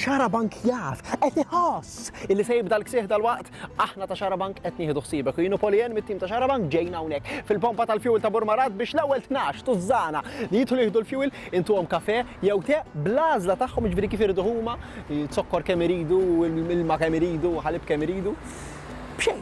Xarabank jaf, qed iħoss illi se jibda l-ksieħ tal-waqt, aħna ta' Xarabank qed nieħdu ħsiebek u jienu Polien mit-tim ta' Xarabank ġejna hawnhekk fil-pompa tal-fuel ta' Burmarat biex l-ewwel 12 tużżana li jidħlu jieħdu l-fuel intuhom kafe jew te bl-għażla tagħhom jiġifieri kif iridu huma, zokkor kemm iridu, ilma kemm iridu, ħalib kemm iridu. B'xejn,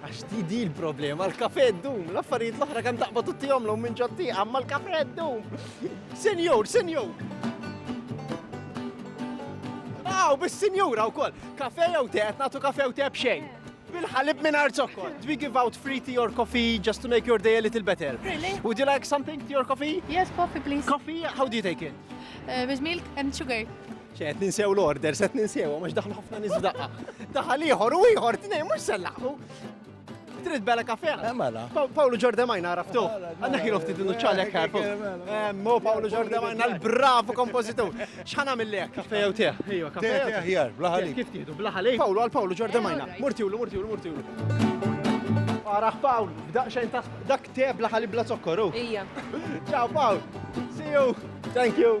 Għax di di l-problema, l-kafe d-dum, l-affarijiet l-oħra kan taqba tutti għomlu minn ġotti, għamma l-kafe d-dum. Senjur, senjur! Aw, bis senjura u koll, kafe jew te, natu kafe jew te bxejn. Bil-ħalib minn arzokkol. Do we give out free tea or coffee just to make your day a little better? Really? Would you like something, tea or coffee? Yes, coffee please. Coffee, how do you take it? Uh, with milk and sugar. ċed ninsew l-order, set ninsew, għax daħlu ħafna nis daqqa. Daħal ieħor u ieħor tnej, mhux sellaħu. Trid bella kafe? Eh, mela. Pawlu Ġordemajna għaraftu. Għanna kienu ftit nuċċalek għarfu. Eh, mo Pawlu Ġordemajna l-bravu kompozitu. Xħana mill-lek? Kafe jew teħ? Ejwa, kafe jew teħ. Jar, blaħali. Kif tiħdu, blaħali? Pawlu għal Pawlu Ġordemajna. Murtiwlu, murtiwlu, murtiwlu. Għaraf Pawl, b'daq xejn ta' dak te blaħali bla zokkoru. Ija. Ciao Pawl. See you. Thank you.